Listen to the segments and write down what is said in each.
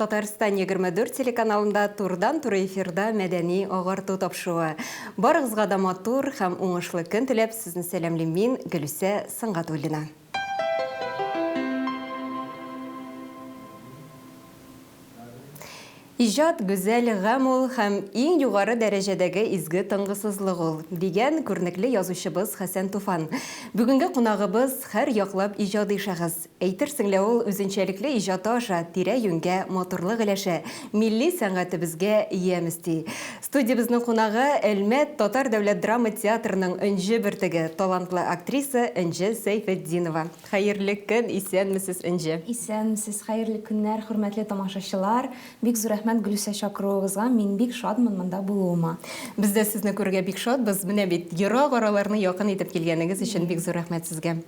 Татарстан егерме дүрт телеканалында турыдан-туры эфирда мәдәни агарту тапшыуы. Барыгызга да матур һәм уңышлы көн теләп, сезне сәламлим мин, Гөлүсә Сөнгатуллина. Иҗат, гүзәл гамь ул һәм иң югары дәрәҗәдәге изге тынгысызлык ул, дигән күренекле язучыбыз Хәсән Туфан. Бүгенге кунагыбыз, һәр яклап иҗади шәхес. Әйтерсең лә ул үзенчәлекле иҗаты аша тирә-юньгә матурлык өләшә, милли сәнгатебезгә ямь өсти. Студиябезнең кунагы, Әлмәт татар дәүләт драма театрының Энҗе бөртеге, талантлы актриса Энҗе Сәйфетдинова. Хәерле көн, исәнмесез, Энҗе! Исәнмесез, хәерле көннәр, хөрмәтле тамашачылар! Бик зур рәхмәт Гөлүсә чакыруыгызга, мин бик шатмын монда булуыма. Без дә сезне күрергә бик шатбыз, менә бит ерак араларны якын итеп килгәнегез өчен бик зур рәхмәт сезгә.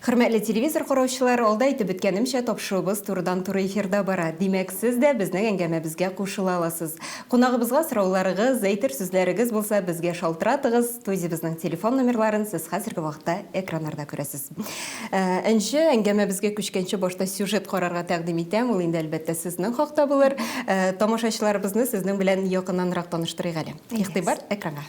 Хөрмәтле телевизор караучылар, алда әйтеп беткәнемчә, тапшыруыбыз турыдан туры эфирда бара. Димәк, сез дә безнең әңгәмәбезгә кушыла аласыз. Кунагыбызга сорауларыгыз, әйтер сүзләрегез булса, безгә шалтыратыгыз, студиябезнең телефон номерларын сез хәзерге вакытта экраннарда күрәсез. Нче әңгәмәбезгә күчкәнче, башта сюжет карарга тәкъдим итәм, ул инде, әлбәттә, сезнең хакта булыр. Тамашачыларыбызны сезнең белән якыннанрак таныштырыйк әле. Игътибар, экранга!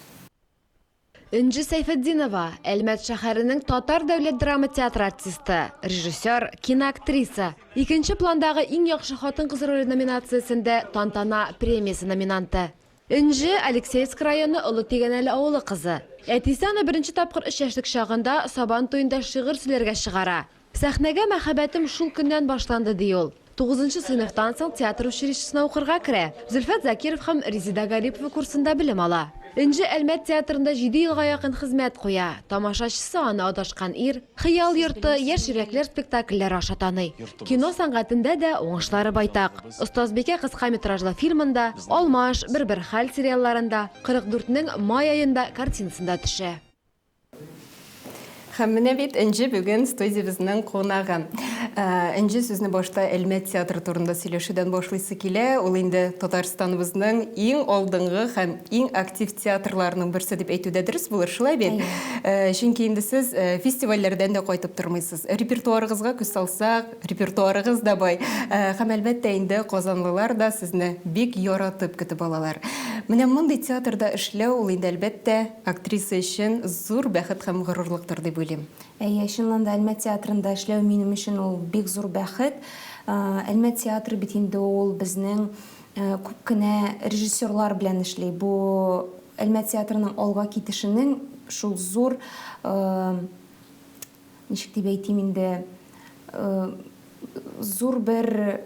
Энҗе Сәйфетдинова, Әлмәт шәһәренең татар дәүләт драма театры артисты, режиссер, киноактриса. Икенче пландагы Иң яхшы хатын-кыз роле номинациясендә Тантана премиясе номинанты. Энҗе, Алексеевск районы Олы Тигәнәле авылы кызы. Әтисе аны беренче тапкыр өч яшьлек чагында Сабан туенда шигырь сөйләргә чыгара. Сәхнәгә мәхәббәтем шул көннән башланды, ди ул. Тугызынчы сыйныфтан соң театр училищесына укырга керә, Зөлфәт Закиров һәм Резеда Гарипова курсында белем ала. Энҗе Әлмәт театрында җиде елга якын хезмәт куя. Тамашачысы аны Адашкан ир, Хыял йорты, Яшь йөрәкләр спектакльләре аша таный. Кино сәнгатендә дә уңышлары байтак. Остазбикә кыска метражлы фильмында, Алмаш, Бер-бер хәл сериалларында, 44 нең май аенда картинасында төшә. Һәм менә бит Энҗе бүген студиябезнең кунагы. Энҗе сүзне башта Әлмәт театры турында сөйләшүдән башлыйсы килә. Ул инде Татарстаныбызның иң алдынгы һәм иң актив театрларының берсе дип әйтү дә дөрес булыр, шулай бит? Чөнки инде сез фестивальләрдән дә кайтып тормыйсыз. Репертуарыгызга күз салсак, Репертуарыгыз да бай. Һәм, әлбәттә инде, казанлылар да сезне бик яратып көтеп алалар. Менә мондый театрда эшләү, ул инде, әлбәттә, актриса өчен зур бәхет һәм горурлыктыр дип уйлыйм. Әйе, чыннан да, Әлмәт театрында эшләү минем өчен ул бик зур бәхет. Әлмәт театры бит инде ул безнең күп кенә режиссерлар белән эшли. Бу, Әлмәт театрының алга китешенең шул зур ничек дип әйтим инде, зур бер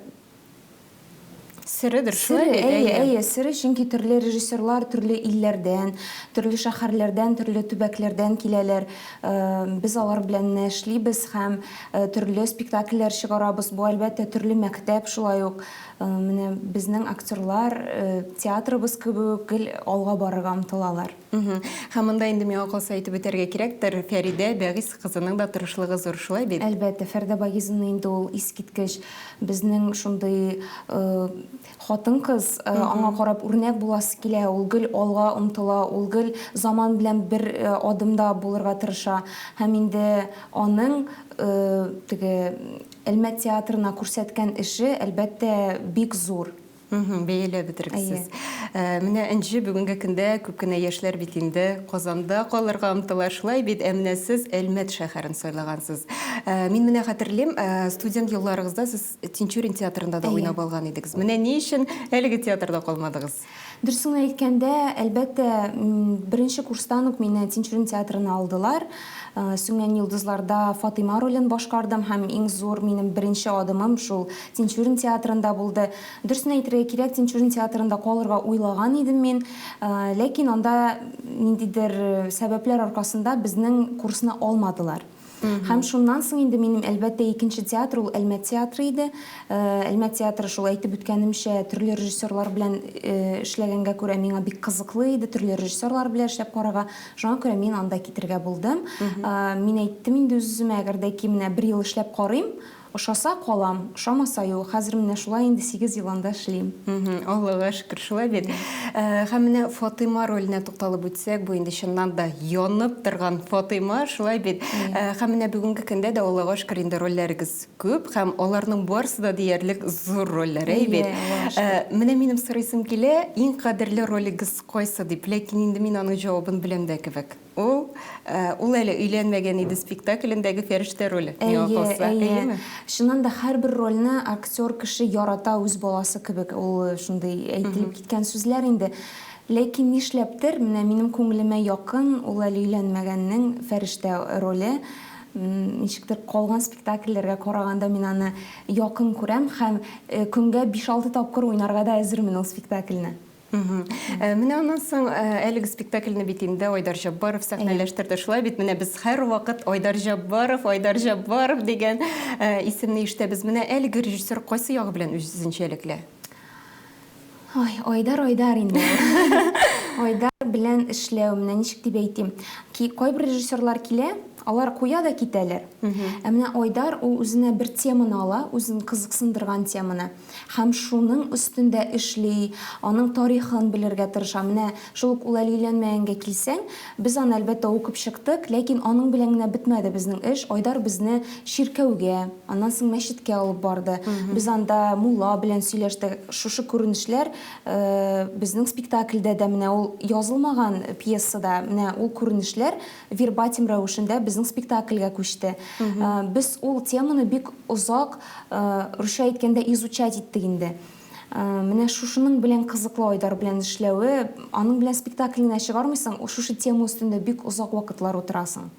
середер шулай бит әйе әйе сере чөнки төрле режиссерлар төрле илләрдән төрле шәһәрләрдән төрле төбәкләрдән киләләр без алар белән нә эшлибез һәм төрле спектакльләр чыгарабыз бу әлбәттә төрле мәктәп шулай ук менә безнең актерлар театрыбыз кебек гел алга барырга омтылалар Һәм монда инде миңа калса әйтеп үтәргә кирәктер, Фәридә Бәгыйс кызының да тырышлыгы зур, шулай бит? Әлбәттә, Фәридә Багизовна инде ул искиткеч. Безнең шундый хатын-кыз, аңа карап үрнәк буласы килә, ул гел алга омтыла, ул гел заман белән бер адымда булырга тырыша. Һәм инде аның теге Әлмәт театрына күрсәткән эше, әлбәттә, бик зур. Бәяләп бетергесез. Менә Энҗе бүгенге көндә күп кенә яшьләр бит инде Казанда калырга омтыла. Шулай бит, ә менә сез Әлмәт шәһәрен сайлагансыз. Мин менә хәтерлим, студент елларыгызда сез Тинчурин театрында да уйнап алган идегез. Менә ни өчен әлеге театрда калмадыгыз? Дөресен әйткәндә, әлбәттә, беренче курстан ук мине Тинчурин театрына алдылар. Сүнгән йолдызларда Фатыйма ролен башкардым һәм иң зур минем беренче адымым шул Тинчурин театрында булды. Дөресен әйтергә кирәк, Тинчурин театрында калырга уйлаган идем мин, ләкин анда ниндидер сәбәпләр аркасында безнең курсны алмадылар. Һәм шуннан соң инде минем әлбәттә икенче театр ул Әлмәт театры иде. Әлмәт театры шул әйтеп үткәнемчә төрле режиссерлар белән эшләгәнгә күрә миңа бик кызыклы иде, төрле режиссерлар белән эшләп карарга. Шуңа күрә мин анда китергә булдым. Мин әйттем инде үз-үземә, әгәр дә ки менә бер ел эшләп карыйм, Ошаса, калам, ошамаса, юк. Хәзер менә шулай инде сигез ел анда эшлим. Мхм, Аллага шөкер, шулай бит. Һәм менә Фатыйма роленә тукталып үтсәк, бу инде чыннан да янып торган Фатыйма, шулай бит? Һәм менә бүгенге көндә дә, Аллага шөкер, инде рольләрегез күп һәм аларның барысы да диярлек зур рольләр, әй бит? Әйе, Аллага шөкер. Менә минем сорыйсым килә, иң кадерле ролегез кайсы дип, ләкин инде мин аның җавабын беләм дә кебек. Ул, ул әле өйләнмәгән иде спектаклендәге Фәрештә роле, миңа калса. Әйе, әйе. Чыннан да һәрбер рольне актер кеше ярата үз баласы кебек. Ул шундый әйтелеп киткән сүзләр инде. Ләкин нишләптер, менә минем күңелемә якын ул әле өйләнмәгәннең Фәрештә роле. Ничектер калган спектакльләргә караганда мин аны якын күрәм һәм көнгә 5-6 тапкыр уйнарга да әзермен ул спектакльне. Менә аннан соң әлеге спектакльне бит инде Айдар Җаббаров сәхнәләштерде. Шулай бит, менә без һәрвакыт Айдар Җаббаров, Айдар Җаббаров дигән исемне ишетәбез. Менә әлеге режиссер кайсы ягы белән үзенчәлекле? Ой, Айдар, Айдар инде ул. Айдар белән эшләү, менә ничек дип әйтим, кайбер режиссерлар килә, алар куя да китәләр. Ә менә Айдар, ул үзенә бер теманы ала, үзен кызыксындырган теманы. һәм шуның өстендә эшли, аның тарихын белергә тырыша. Менә шул ук Уләли өйләнмәгәнгә килсәң, без аны, әлбәттә, укып чыктык, ләкин аның белән генә бетмәде безнең эш. Айдар безне чиркәүгә, аннан соң мәчеткә алып барды. Без анда мулла белән сөйләштек. Шушы күренешләр безнең спектакльдә дә, менә ул язылмаган пьесада, менә ул күренешләр вербатим рәвешендә безнең спектакльгә күчте. Без ул теманы бик озак, русча әйткәндә, изучать иттек инде. Менә шушының белән кызыклы Айдар белән эшләве, аның белән спектакль генә чыгармыйсың, шушы тема өстендә бик озак вакытлар утырасың.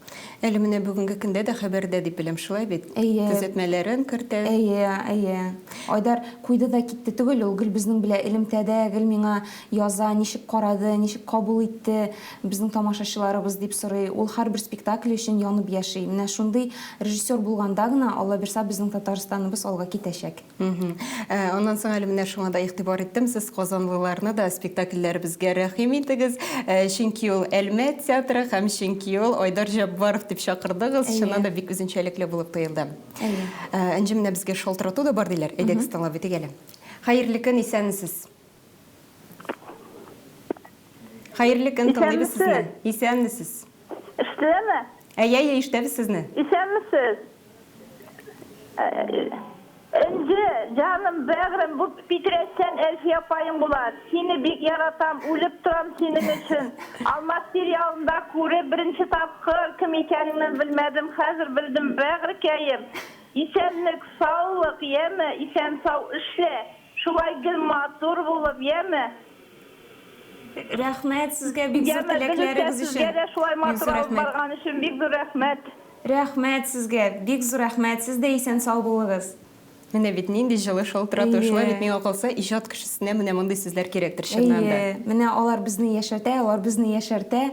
Әле менә бүгенге көндә дә хәбәрдә дип беләм, шулай бит? Әйе. Төзәтмәләрен кертә. Әйе, әйе. Айдар куйды да китте түгел, ул гел безнең белән элемтәдә, гел миңа яза, ничек карады, ничек кабул итте. Безнең тамашачыларыбыз, дип сорый. Ул һәрбер спектакле өчен янып яши. Менә шундый режиссер булганда гына, Аллабирса, безнең Татарстаныбыз алга китәчәк. Мхм. Аннан соң әле менә шуңа да игътибар иттем, сез казанлыларны да спектакльләребезгә рәхим итегез, чөнки ул Әлмәт театры һәм чөнки ул Айдар Җәббаров дип чакырдыгыз, чыннан да бик үзенчәлекле булып тоелды. Әйе. Энҗе, менә безгә шалтырату да бар диләр, әйдәгез тыңлап үтик әле. Хәерле көн, исәнмесез! Хәерле көн, тыңлыйбыз сезне. Исәнмесез. Ишетеләме? Әйе, әйе, ишетәбез сезне. Исәнмесез. Энҗе, җаным, бәгърем, бу питрәчтән Әлфия апаең була. Сине бик яратам, үлеп торам синең өчен. Алмаз сериалында күреп, беренче тапкыр кем икәнеңне белмәдем, хәзер белдем, бәгърекәем. Исәнлек, саулык, яме, исән-сау эшлә, Шулай гел матур булып, яме. Рәхмәт сезгә бик зур теләкләрегез өчен. Яме, безгә сезгә дә шулай матур алып барган өчен бик зур рәхмәт. Рәхмәт сезгә, бик зур рәхмәт, сез дә исән сау булыгыз. Менә бит нинди җылы шул тора тора шулай бит миңа калса иҗат кешесенә менә мондый сүзләр кирәктер чыннан да. Әйе, менә алар безне яшәртә, алар безне яшәртә.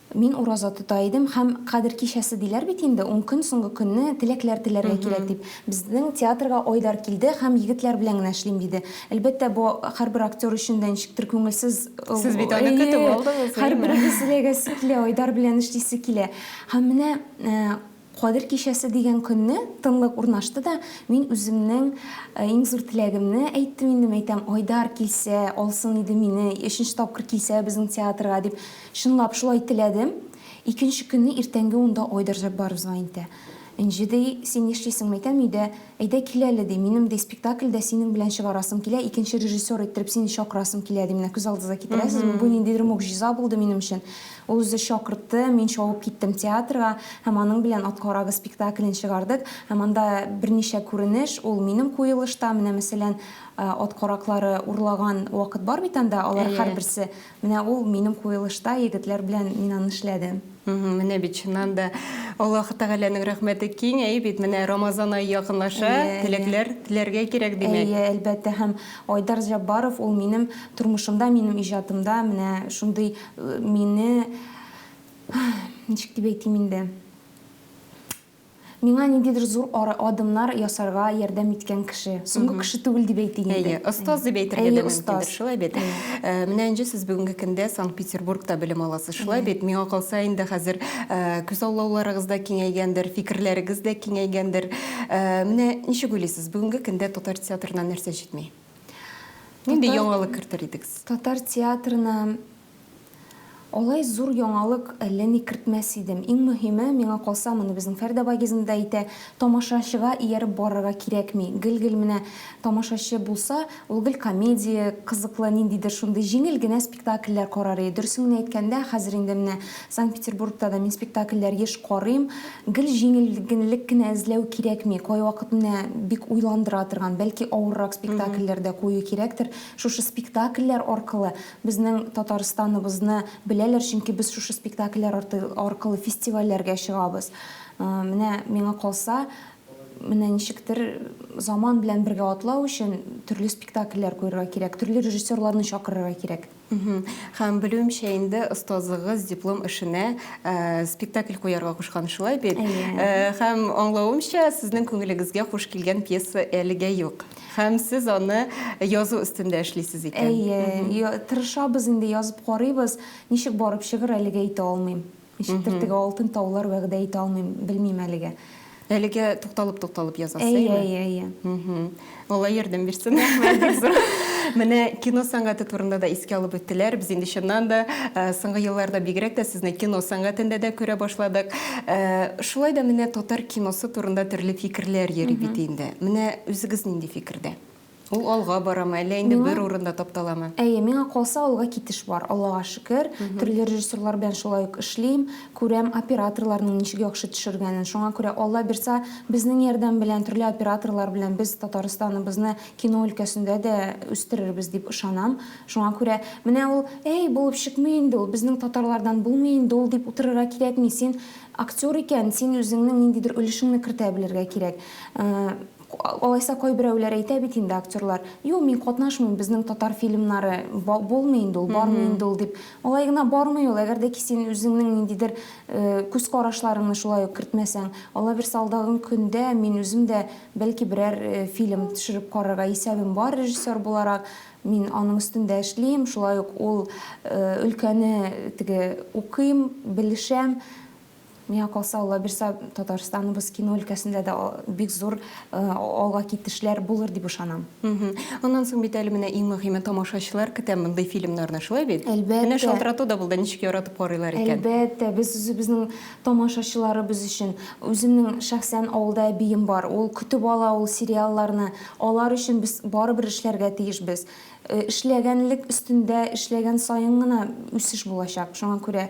Мин ураза тота идем һәм Кадер кичәсе диләр бит инде, ун көн, соңгы көнне теләкләр теләргә кирәк дип. Безнең театрга Айдар килде һәм егетләр белән генә эшлим диде. Әлбәттә, бу һәрбер актер өчен дә ничектер күңелсез. Сез бит аны көтеп алдыгыз, әйеме? Һәрберебез теләгәсе килә, Айдар белән эшлисе килә. Һәм менә Кадер кичәсе дигән көнне тынлык урнашты да, мин үземнең иң зур теләгемне әйттем инде, мәйтәм, Айдар килсә, алсын иде мине, өченче тапкыр килсә безнең театрга, дип, чынлап шулай теләдем. Икенче көнне иртәнге унда Айдар Җәббаров звонит итә. Энҗе, ди, син нишлисең, мәйтәм, өйдә, әйдә кил әле, ди, минем, ди, спектакльдә синең белән чыгарасым килә, икенче режиссер иттереп сине чакырасым килә, ди, менә күз алдыгызга китерәсезме, бу ниндидер могҗиза булды минем өчен. Ул үзе чакыртты, мин чабып киттем театрга һәм аның белән Ат карагы спектаклен чыгардык. Һәм анда берничә күренеш, ул минем куелышта, менә мәсәлән, ат караклары урлаган вакыт бар бит анда, алар һәрберсе, менә ул минем куелышта, егетләр белән мин аны эшләдем. Менә бит, чыннан да, Аллаһы Тәгаләнең рәхмәте киң, әйе бит, менә Рамазан ае якынлаша, теләкләр теләргә кирәк, димәк. Әйе, әлбәттә, һәм Айдар Җаббаров, ул минем тормышымда, минем иҗатымда менә шундый Мине, ничек дип әйтим инде, миңа ниндидер зур адымнар ясарга ярдәм иткән кеше. Соңгы кеше түгел дип әйтик инде. Әйе, остаз дип әйтергә дә мөмкиндер, шулай бит. Э, менә Энҗе, сез бүгенге көндә Санкт-Петербургта белем аласыз, шулай бит? Миңа калса инде хәзер э, күз аулауларыгыз да киңәйгәндер, фикерләрегез дә киңәйгәндер. Э, менә ничек уйлыйсыз, бүгенге көндә татар театрына нәрсә җитми? Нинди яңалык кертер идегез? Татар театрына Алай зур яңалык әллә ни кертмәс идем. Иң мөһиме, миңа калса, моны безнең Фәрдә Багизин да әйтә, тамашачыга ияреп барырга кирәкми. Гел-гел менә тамашачы булса, ул гел комедия, кызыклы ниндидер шундый җиңел генә спектакль спектакльләр карар иде. Дөресен генә әйткәндә, хәзер инде менә Санкт-Петербургта да мин спектакльләр еш карыйм. Гел җиңеллек кенә эзләү кирәкми. Кайвакыт менә бик уйландыра торган, бәлки авыррак спектакльләр дә кую кирәктер. Шушы спектакльләр аркылы безнең Татарстаныбызны беләләр, чөнки без шушы спектакльләр аркылы фестивальләргә чыгабыз. Менә миңа калса, Менә ничектер заман белән бергә атлау өчен төрле спектакльләр куерга кирәк, төрле режиссерларны чакырырга кирәк. Һәм, белүемчә, инде остазыгыз диплом эшенә спектакль куярга кушкан, шулай бит? Әйе. Һәм, аңлавымча, сезнең күңелегезгә хуш килгән пьеса әлегә юк. Һәм сез аны язу өстендә эшлисез икән. Әйе, тырышабыз инде, язып карыйбыз. Ничек барып чыгыр, әлегә әйтә алмыйм. Ничектер теге алтын таулар вәгъдә итә алмыйм, белмим әлегә. Әлегә тукталып-тукталып язасыз, әйеме? Әйе, әйе, әйе. Алла ярдәм бирсен. Менә кино сәнгате турында да искә алып үттеләр. Без инде чыннан да э, соңгы елларда бигрәк тә сезне кино сәнгатендә дә күрә башладык. Э, шулай да менә татар киносы турында төрле фикерләр йөри бит инде. Менә үзегез нинди фикердә? Ул алга барамы, әллә инде бер урында тапталамы? Әйе, миңа калса, алга китеш бар, Аллага шөкер. Төрле режиссерлар белән шулай ук эшлим, күрәм операторларның ничек яхшы төшергәнен. Шуңа күрә, Алла бирса, безнең ярдәм белән, төрле операторлар белән без Татарстаныбызны кино өлкәсендә дә үстерербез дип ышанам. Шуңа күрә, менә ул, әй, булып чыкмый инде ул, безнең татарлардан булмый инде ул дип утырырга кирәкми. Син актер икән, син үзеңнең ниндидер өлешеңне кертә белергә кирәк. Алайса кайберәүләр әйтә бит инде актерлар, Юк, мин катнашмыйм, безнең татар фильмнары булмый инде ул, бармый инде ул дип. Алай гына бармый ул, әгәр дә ки син үзеңнең ниндидер күз карашларыңны шулай ук кертмәсәң. Аллабирса алдагы көндә мин үзем дә бәлки берәр фильм төшереп карарга исәбем бар режиссер буларак. Мин аның өстендә эшлим, шулай ук ул өлкәне теге укыйм, белешәм. Миңа калса, Аллабирса Татарстаныбыз кино өлкәсендә дә бик зур алга китешләр булыр дип ышанам. Аннан соң бит әле менә иң мөһиме тамашачылар көтә мондый фильмнарны, шулай бит? Әлбәттә. Менә шалтырату да булды, ничек яратып карыйлар икән. Әлбәттә, без үзебезнең тамашачыларыбыз өчен. Үземнең шәхсән авылда әбием бар, ул көтеп ала ул сериалларны. Алар өчен без барыбер эшләргә тиешбез. Эшләгәнлек өстендә эшләгән саен гына үсеш булачак. Шуңа күрә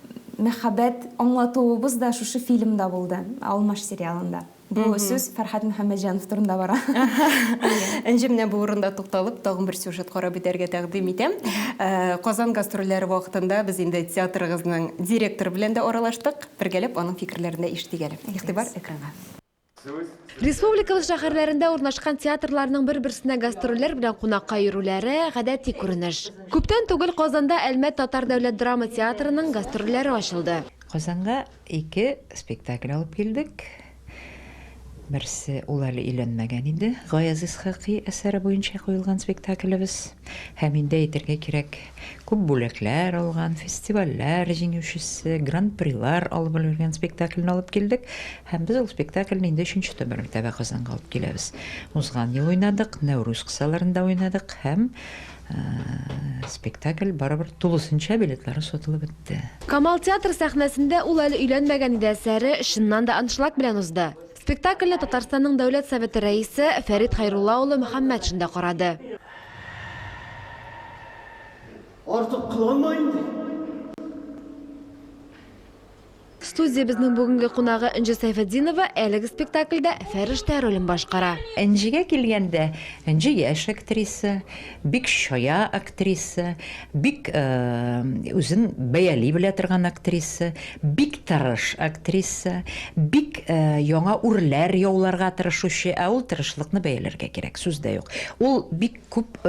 мәхәббәт аңлатуыбыз да шушы фильмда булды, Алмаш сериалында. Бу сүз Фәрхәт Мөхәммәтҗанов турында бара. Энҗе, менә бу урында тукталып, тагын бер сюжет карап үтәргә тәкъдим итәм. Казан гастрольләре вакытында без инде театрыгызның директоры белән дә аралаштык. Бергәләп аның фикерләрен дә ишетик әле. Игътибар экранга. Республикабыз шәһәрләрендә урнашкан театрларның бер-берсенә гастрольләр белән кунакка йөрүләре, гадәти күренеш. Күптән түгел Казанда Әлмәт татар дәүләт драма театрының гастрольләре ачылды. Казанга ике спектакль алып килдек. Берсе, ул әле өйләнмәгән иде, Гаяз Исхакый әсәре буенча куелган спектаклебез. Һәм инде әйтергә кирәк, күп бүләкләр алган, фестивальләр җиңүчесе, гран-прилар алып өлгергән спектакльне алып килдек. Һәм без ул спектакльне инде өченче тәмамәртәбә Казанга алып киләбез. Узган ел уйнадык, Нәүрүз кысаларында уйнадык һәм спектакль барыбер тулысынча билетлары сатылып бетте. Камал театры сәхнәсендә ул әле өйләнмәгән иде әсәре чыннан да аншлаг белән узды. Спектакльне Татарстанның Дәүләт Советы Рәисе Фәрит Хәйрулла улы Мөхәммәтшин да карады. Артык кыланма инде. Студиябезнең бүгенге кунагы Энҗе Сәйфетдинова әлеге спектакльдә Фәрештә ролен башкара. Энҗегә килгәндә, Энҗе яшь актриса, бик чая актриса, бик үзен бәяли белә торган актриса, бик тырыш актриса, бик яңа үрләр яуларга тырышучы, ә ул тырышлыкны бәяләргә кирәк, сүз дә юк. Ул бик Күп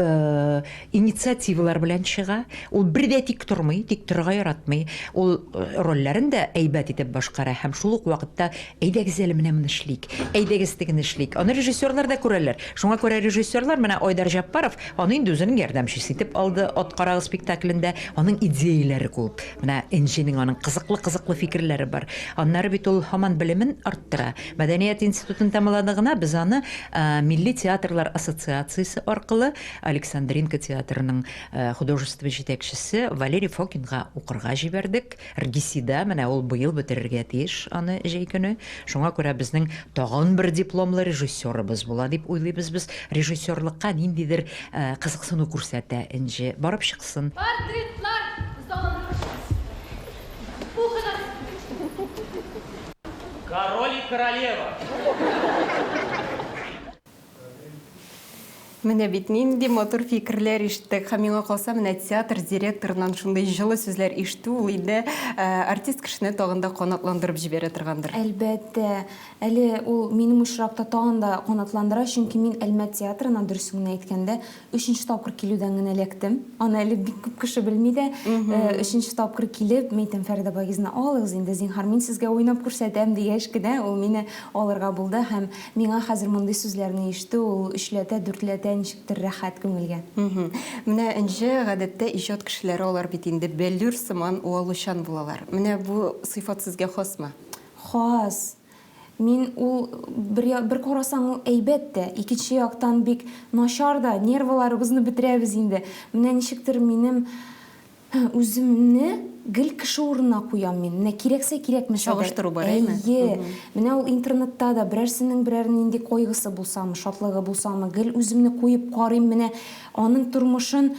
инициативалар белән чыга. Ул бер дә тик тормый, тик торырга яратмый. Ул рольләрен дә әйбәт итеп башкара һәм шул ук вакытта, Әйдәгез әле менә моны эшлик, әйдәгез тегене эшлик. Аны режиссерлар да күрәләр. Шуңа күрә режиссерлар менә Айдар Җәппаров аны инде үзенең ярдәмчесе итеп алды Ат карагыз спектаклендә. Аның идеяләре күп. Менә Энҗенең аның кызыклы-кызыклы фикерләре бар. Аннары бит ул һаман белемен арттыра. Мәдәният институтын тәмамлады гына без аны Милли театрлар ассоциациясе аркылы Александринка театрының художество җитәкчесе Валерий Фокинга укырга җибәрдек. РГИСИда, менә ул быел бетерергә тиеш аны җәй көне. Шуңа күрә безнең тагын бер дипломлы режиссерыбыз була дип уйлыйбыз без. Режиссерлыкка ниндидер кызыксыну күрсәтә Энҗе. Барып чыксын. Портретлар залын ачыгыз. Укыгыз. Король и королева. Менә бит нинди матур фикерләр ишеттек. Һәм миңа калса, менә театр директорыннан шундый җылы сүзләр ишетү ул инде артист кешене тагын да канатландырып җибәрә торгандыр. Әлбәттә. Әле ул минем очракта тагын да канатландыра, чөнки мин Әлмәт театрына, дөресен генә әйткәндә, Өченче тапкыр килүдән генә эләктем. Аны әле бик күп кеше белми дә. Өченче тапкыр килеп, мин әйтәм, Фәридә Багизовна, алыгыз инде, зинһар, мин сезгә уйнап күрсәтәм, дигәч кенә, ул мине алырга булды һәм миңа хәзер мондый сүзләрне ишетү, ул өчләтә, дүртләтә ничектер рәхәт күңелгә. Менә Энҗе, гадәттә, иҗат кешеләре алар бит инде бәллүр сыман уалучан булалар. Менә бу сыйфат сезгә хасмы? Хас. Мин ул бер, бер карасаң ул әйбәт тә, икенче яктан бик начар да, нервыларыбызны бетерәбез инде. Менә ничектер минем үземне гел кеше урынына куям мин. Менә кирәксә кирәкмәсә. Чагыштыру бар, әйме? Әйе. Менә ул интернетта да берәрсенең берәр нинди койгысы булсамы, шатлыгы булсамы, гел үземне куеп карыйм, менә Аның тормышын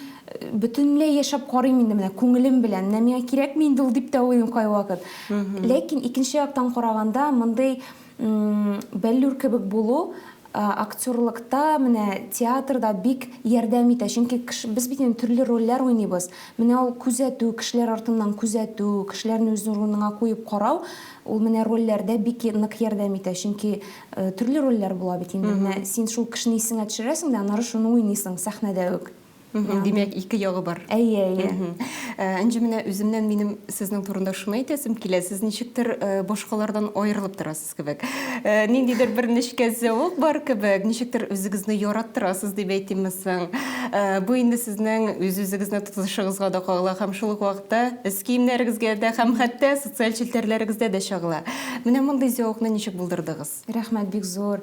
бөтенләй яшәп карыйм инде менә күңелем белән. Менә миңа кирәкми инде ул дип тә уйлыйм кайвакыт. Ләкин икенче яктан караганда, мондый бәллүр кебек булу актерлыкта, менә театрда бик ярдәм итә. Чөнки без бит инде төрле рольләр уйныйбыз. Менә ул күзәтү, кешеләр артыннан күзәтү, кешеләрне үз урыныңа куеп карау, ул менә рольләрдә бик нык ярдәм итә. Чөнки Э, төрле рольләр була бит инде. Менә син шул кешене исеңә төшерәсең дә, аннары шуны уйныйсың сәхнәдә үк. Димәк, ике ягы бар. Әйе, әйе. Э, Энҗе, менә үземнән минем сезнең турында шуны әйтәсем килә. Сез ничектер э, башкалардан аерылып торасыз кебек. Э, ниндидер бер нечкә зәвык бар кебек, ничектер үзегезне яраттырасыз дип әйтимме соң. Э, бу инде сезнең үз-үзегезне тотышыгызга да кагыла һәм шул ук вакытта эс киемнәрегезгә дә һәм хәтта социаль челтәрләрегездә дә чагыла. Менә мондый зәвыкны ничек булдырдыгыз? Рәхмәт бик зур.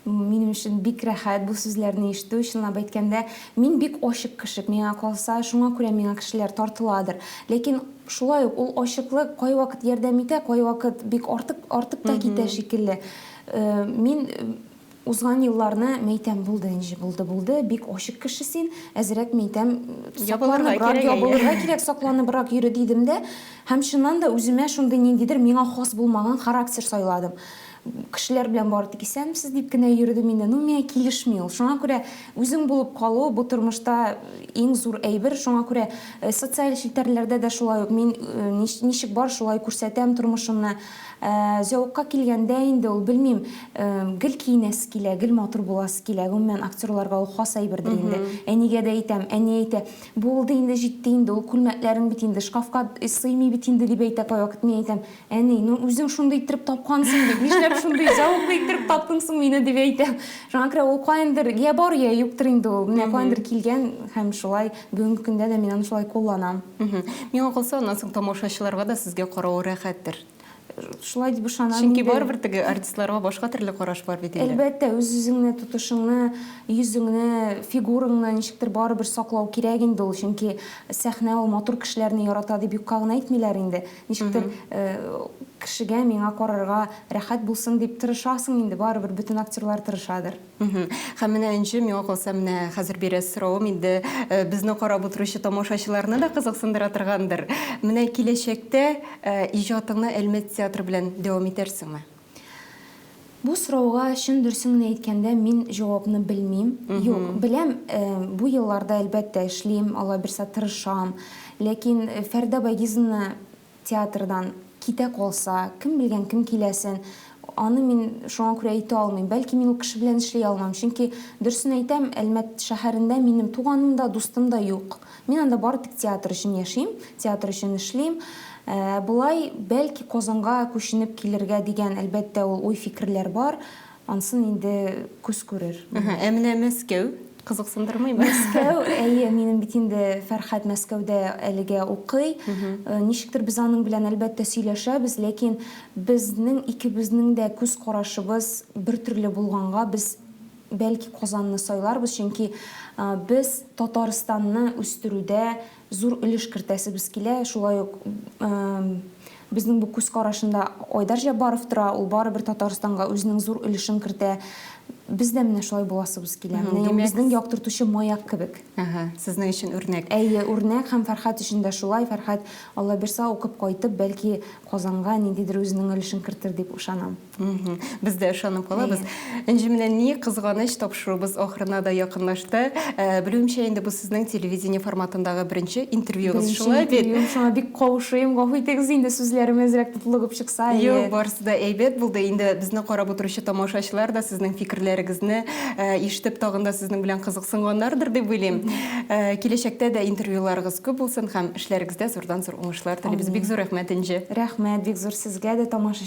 Минем өчен бик рәхәт бу сүзләрне ишетү. Чынлап әйткәндә, мин бик ачык кеше, миңа калса, шуңа күрә миңа кешеләр тартыладыр. Ләкин шулай ук ул ачыклык кайвакыт ярдәм итә, кайвакыт бик артык артып та китә шикелле. Мин Узган елларны мәйтәм булды энҗе булды булды бик ачык кеше син әзерәк мәйтәм сакланыбрак ябылырга кирәк сакланыбрак йөре дидем дә һәм чыннан да үземә шундый ниндидер миңа хас булмаган характер сайладым кешеләр белән бары тик исәнмесез дип кенә йөрдем инде ну миңа килешми ул шуңа күрә үзең булып калу бу тормышта иң зур әйбер шуңа күрә социаль челтәрләрдә дә шулай ук мин ничек бар шулай күрсәтәм тормышымны Ә зәвыкка килгәндә инде ул, белмим, гел киенәсе килә, гел матур буласы килә. Гомумән, актерларга ул хас әйбердер инде. Әнигә дә әйтәм, әни әйтә, Булды инде, җитте инде, ул күлмәкләрең бит инде шкафка сыймый бит инде, дип әйтә кайвакыт. Мин әйтәм, Әни, ну, үзең шундый иттереп тапкансың бит, нишләп шундый зәвыклы иттереп таптың соң мине, дип әйтәм. Шуңа күрә ул каяндыр йә бар, йә юктыр инде ул. Менә каяндыр килгән һәм шулай бүгенге көндә дә мин аны шулай кулланам. Миңа калса, аннан соң тамашачыларга да сезгә карау рәхәттер. Шулай дип ышанам. Чөнки барыбер теге артистларга башка төрле караш бар бит инде. Әлбәттә, үз-үзеңне, тотышыңны, йөзеңне, фигураңны ничектер барыбер саклау кирәк инде ул. Чөнки сәхнә ул матур кешеләрне ярата дип юкка гына әйтмиләр инде. Ничектер кешегә, миңа карарга рәхәт булсын дип тырышасың инде, барыбер бөтен актерлар тырышадыр. Һәм менә Энҗе, миңа калса, менә хәзер бирәс соравым инде безне карап утыручы тамашачыларны да кызыксындыра торгандыр. Менә киләчәктә иҗатыңны Әлмәт театры белән дәвам итәрсеңме? Бу сорауга чын дөресен генә әйткәндә, мин җавапны белмим. Юк, беләм, бу елларда, әлбәттә, эшлим, алай берса тырышам. Ләкин Фәридә Байгизовна Театрдан китә калса, кем белгән, кем киләсен, аны мин шуңа күрә әйтә алмыйм. Бәлки мин ул кеше белән эшли алмам, чөнки, дөресен әйтәм, Әлмәт шәһәрендә минем туганым да, дустым да юк. Мин анда бары тик театр өчен яшим, театр өчен эшлим. Ә болай, бәлки Казанга күченеп килергә дигән, әлбәттә, ул уй-фикерләр бар. Ансын инде күз күрер. Әһә, ә менә Мәскәү кызыксындырмыймы? Мәскәү, әйе, минем бит инде Фәрхәт Мәскәүдә әлегә укый. Э, ничектер без аның белән әлбәттә сөйләшәбез, ләкин безнең икебезнең дә күз карашыбыз бер төрле булганга, без бәлки Казанны сайларбыз, чөнки э, без Татарстанны үстерүдә зур өлеш кертәсебез килә, шулай ук безнең бу күз карашында Айдар Җаббаров тора, ул барыбер Татарстанга үзенең зур өлешен кертә. Без дә менә шулай буласыбыз килә. Менә ул безнең яктыртучы маяк кебек. Ага, сезнең өчен үрнәк. Әйе, үрнәк һәм Фәрхәт өчен дә шулай. Фәрхәт, Аллабирса укып кайтып, бәлки Казанга ниндидер үзенең өлешен кертер дип ышанам. Без дә ышанып калабыз. Энҗе менә ни кызганыч, тапшыруыбыз ахырына да якынлашты. Э, Белүемчә, инде бу сезнең телевидение форматындагы беренче интервьюгыз, шулай бит? Интервью, шуңа бик каушыйм. Гафу итегез, инде сүзләрем әзрәк тотлыгып чыкса. Юк, барысы да әйбәт булды. Инде безне карап утыручы тамашачылар да сезнең фикерләрегезне э, ишетеп тагын да сезнең белән кызыксынганнардыр дип уйлыйм. Э, киләчәктә дә интервьюларыгыз күп булсын һәм эшләрегездә зурдан зур уңышлар телибез. Бик зур рәхмәт, Энҗе. Рәхмәт, бик зур сезгә дә тамаша